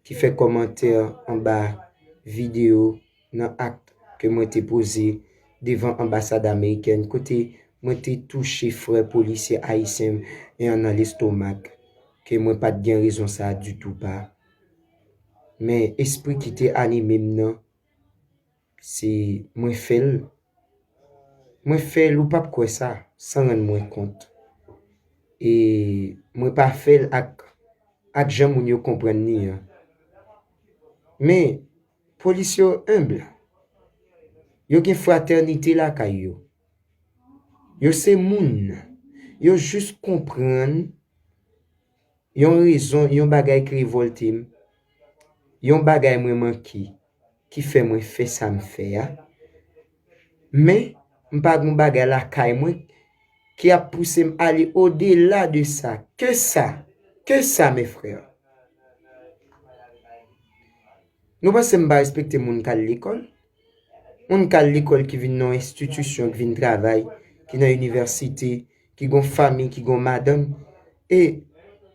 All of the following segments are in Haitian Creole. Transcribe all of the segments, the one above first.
ki fè kòmantè anba videyo nan akt ke mwen te poze devan anbasad amerikèn kote mwen te touche frè polisye ayisyen m an nan lestomak ke mwen pa t gen rezon sa a ditou pa men espri ki te anime m nan. Se mwen fè l. Mwen fè l ou pap kwè sa, san rann mwen kont. E mwen pa fè l ak ak jan moun yo konprann li an. Men, polis yo enb. Yo gen fratènite lakay yo. Yo se moun. Yo jis konprann. Yon rezon, yon bagay ki revòlte m, yon bagay mwen manke ki fè mwen fè sa m fè a. Men, m pa gen yon bagay lakay mwen ki ap pouse m ale odela de sa. Ke sa! Ke sa, mes frères! Nou panse m pa respekte moun k al lekòl? Moun k al lekòl ki vin nan yon enstitisyon, ki vin travay, ki nan inivèsite, ki gon fami, ki gon madanm. E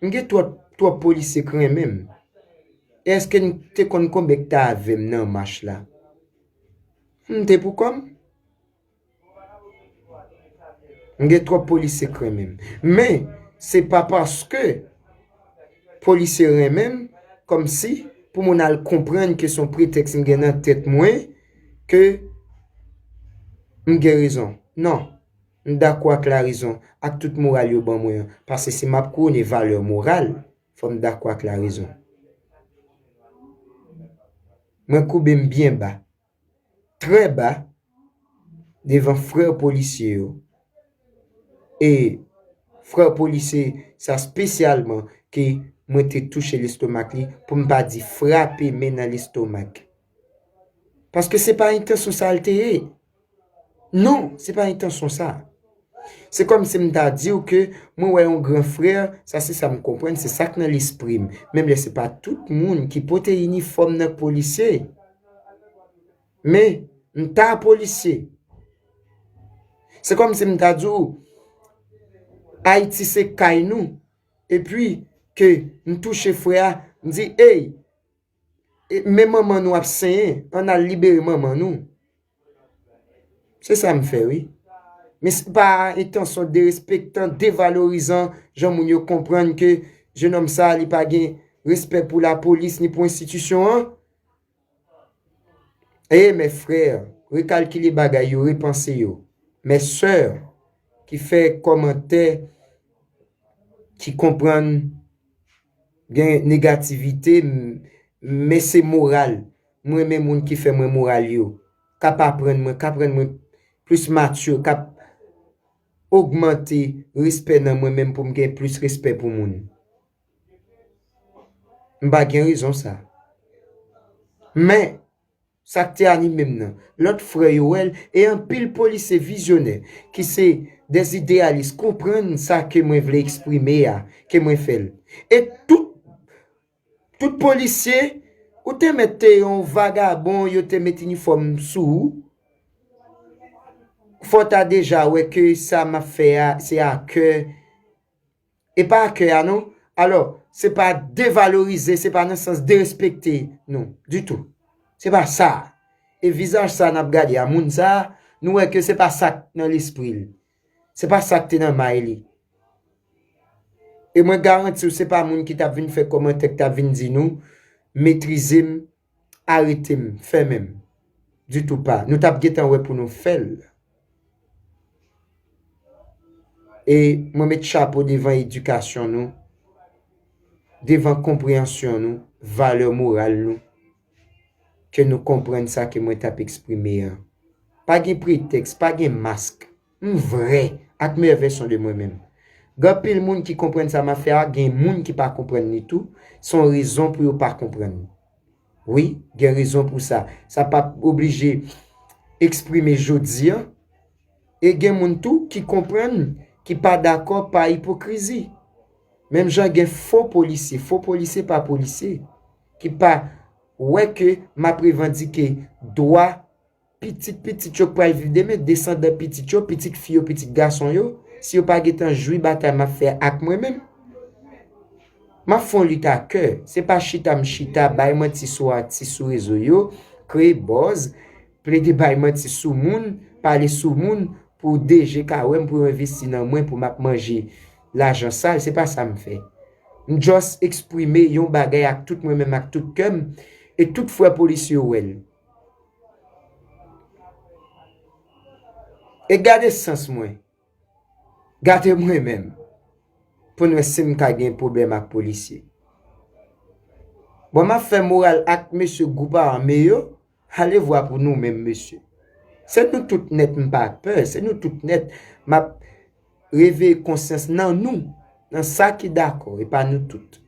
m gen twòp twòp polisye k renmen m. E èske n te konn konbyen k t avè m nan mach la? M te poukò m. M gen twòp polisye k renmen m. Men, se pa paske polisye renmen m, kòmsi pou moun al konprann ke se yon pretèks m gen nan tèt mwen, ke m gen rezon. Non. M dakò ak larezon, ak tout moral yo ban mwen an. Pase si m ap kouwone valè moral, fò m dakò ak larezon. Mwen koube m byen ba trè ba devan frè polisye yo e frè polisye sa spesyalman ke mwen te touche lestomak li pou m pa di frape men nan lestomak. Paske se pa entansyon sa l te ye. Non, se pa entansyon sa. Se kòm si m ta di w ke mwen wè yon gran frè, sa se sa m konprann, se sa k nan lespri m. Menm lè se pa tout moun ki pote inifòm nan k polisye. Men, m ta polisye. Se kòm si m ta di w, Ayiti se kay nou, epi ke m touche frè a, m di, Ey! Men manman nou ap senyen an al libere manman nou se sa m fè wi men se pa entansyon derespektan devalorizan jan moun yo konprann ke jenòm sa li pa gen respè pou lapolis ni pou enstitisyon an ee mè frè rekalkile bagay yo repanse yo mè sè ki fè kòmantè ki konprann. Gen negativite men se moral m renmen moun ki fè mwen moral yo kap aprann mwen kap rann mwen plis mature kap ogmante respè nan mwen menm pou m gen plis respè pou moun m pa gen rezon sa men Sa k te anime m nan, lòt frè yo wè l e anpil polisye vizyonè ki se dè ideyalis konprann sa ke mwen vle eksprime a, ke mwen fè l. E tout, tout polisye, ou te mèt te yon vagabon yo te met inifòm sou ou, fò w ta deja wè ke sa m ap fè a se a kè e pa a kè a non, alò, se pa devalorize, se pa nan sans derespekte nou, ditou. Se pa sa. E vizaj sa a n ap gade a, moun sa a, nou wè ke se pa sa k nan lespri l. Se pa sa k te nan may li. E mwen garanti w se pa moun ki t ap vin fè kòmantè, ki t ap vin di nou, metrize m, aretem fèmenm ditou pa nou tap gentan wè pou nou fèl e mwen met chapo devan edikasyon nou devan konpreyansyon nou valè moral nou ke nou konprann sa ke mwen tap eksprime a pa gen pretèks pa gen mask. M vrè ak meyè vèsyon de mwen menm. Gen anpil moun ki konprann sa map fè a gen moun ki pa konprann li tou, son rezon pou yo pa konprann li. Wi gen rezon pou sa, sa pap oblije eksprime jodi an e gen moun tou ki konprann ki pa dakò pa ipokrizi. Menm jan gen fo polisye, fo polisye pa polisye ki pa wè ke map revandike dwa. Pitit pitit yo k pral viv demen, desandan pitit yo, pitit fi yo, pitit gason yo, si yo pa gen tan jwi batay m ap fè ak mwen menm, m ap fè yon lit a kè, se pa chita m chita bay manti sou atis sou rezo yo, kreye buzz, plede bay manti sou moun, pale sou moun pou DG ka wè m pou yo envesti nan mwen pou m ap manje lajan sal, se pa sa m fè. M just eksprime yon bagay ak tout mwen menm ak tout kè m e tout frè polisye yo wè l. E gade sans mwen. Gade mwen menm. Pou n wè si m ka gen pwoblèm ak polisye. Bon m ap fè moral ak mesye gwoup ame yo, alevwa pou nou menm mesye. Se nou tout nèt m pa pè, se nou tout nèt m ap reveye konsyans nan nou, nan sa ki dakò, e pa nou tout.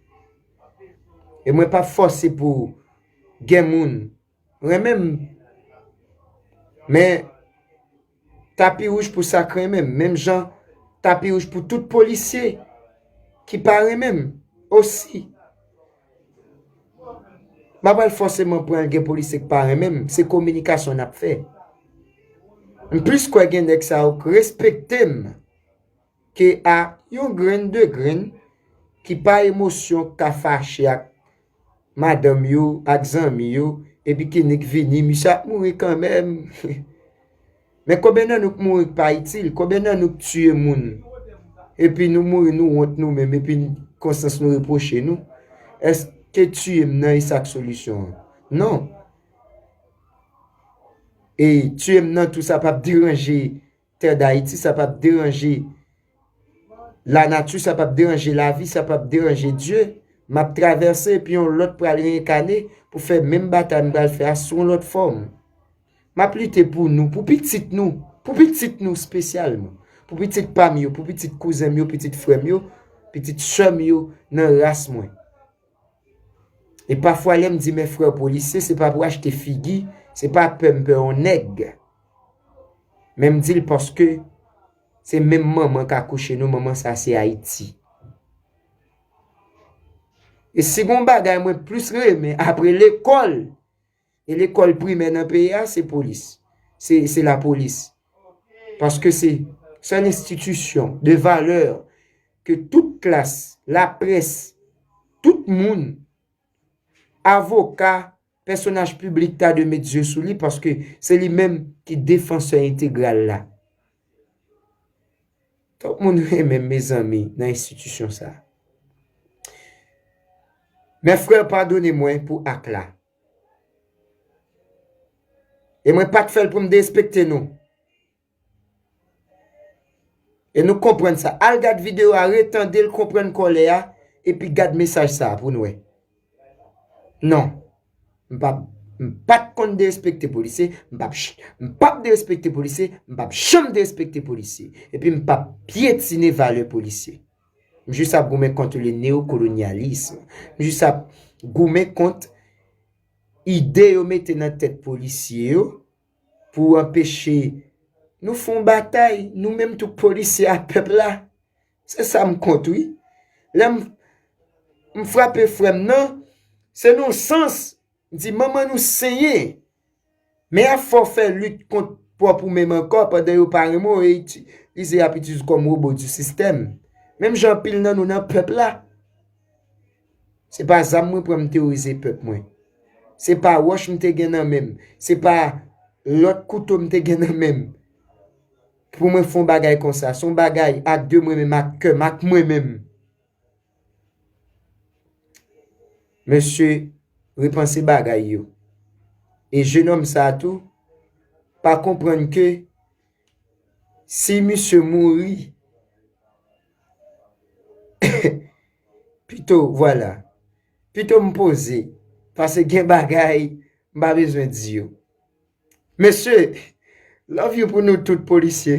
E mwen pa fòse pou. gen moun renmen m men tapi wouj pou sa k renmen m menm jan tapi wouj pou tout polisye ki pa renmen m osi m pa pral fòseman pran gen polisye k pa renmen m se kominikasyon n ap fè m plis kwè gen nèg sa yo k respekte m KA, Yon grenn de grenn ki pa emosyon k ka fache ak madanm yo, ak zanmi yo, epi kinnik vini, misye ap mouri kanmenm. Men konbyen nan nou k mouri k pa itil? Konbyen nan nou k tiye moun, epi nou mouri nou wont nou menm, epi konsyans nou repwoche nou? Èske tiye m nan e sa k solisyon an? Non. E tiye m nan tou sa p ap deranje. tè dayiti sa pap deranje la nati sa pap deranje lavi sa pap deranje Dye map travèse epi yon lòt pral reenkane pou fè menm batay m pral fè a sou yon lòt fòm map lite pou nou pou pitit nou pou pitit nou spesyalman pou pitit pam yo pou pitit kouzen m yo pitit frè m yo pitit sè m yo nan ras mwen. E pafwa lèm di men frè polisye se pa pou achte figi, se pa pè m pè yon nèg. Men m di l paske se menm manman k akouche nou, manman sa se Ayiti. E si gon bagay mwen plis renmen apre lekòl, E lekòl primè nan peyi a se polis. Se lapolis. Paske se sèl enstitisyon de valè ke tout klas, laprès, tout moun, avoka, pèsonaj piblik ta dwe met zye sou li paske se li menm ki defansè entegral la. Twòp moun renmen mezanmi nan enstitisyon sa. Mè frè padone mwen pou ak la. E mwen pat fèl pou m derespekte nou. E nou konprann sa. Al gad video a retande l konprann kòlè a epi gad mesaj sa pou nou wè. Non. M pap m pat konn derespekte polisye, m pap m pap derespekte polisye, m pap janm derespekte polisye. Epi m pap pyetine valè polisye. M jis ap goumen kont le neokolonyalism. M jis ap goumen kont ide yo mete nan tèt polisye yo pou anpeche nou fè yon batay nou menm tou polisye ak pèp la. Se sa m kont wi. Lè m frape frè m nan, se nan yon sans Di manman nou senyen. Men a fò fè lit kont pwòp ou menm ankò pandan yo pa renmen w e itilize y ap itilize w kòm robo di sistèm. Menm jan anpil nan nou nan pèp la. Se pa zam mwen pran m teworize pèp mwen. Se pa wòch m te gen nan men m. Se pa lòt kouto m te gen nan men m. Pou mwen fon bagay konsa. Son bagay ak de mwen menm ak kè m ak mwen menm. Mesye repanse bagay yo. E jenom sa tou pa konprann ke si misye mouri pito vwala. Pito m poze pase gen bagay m pa bezwen di yo. Mesye love you pou nou tout polisye.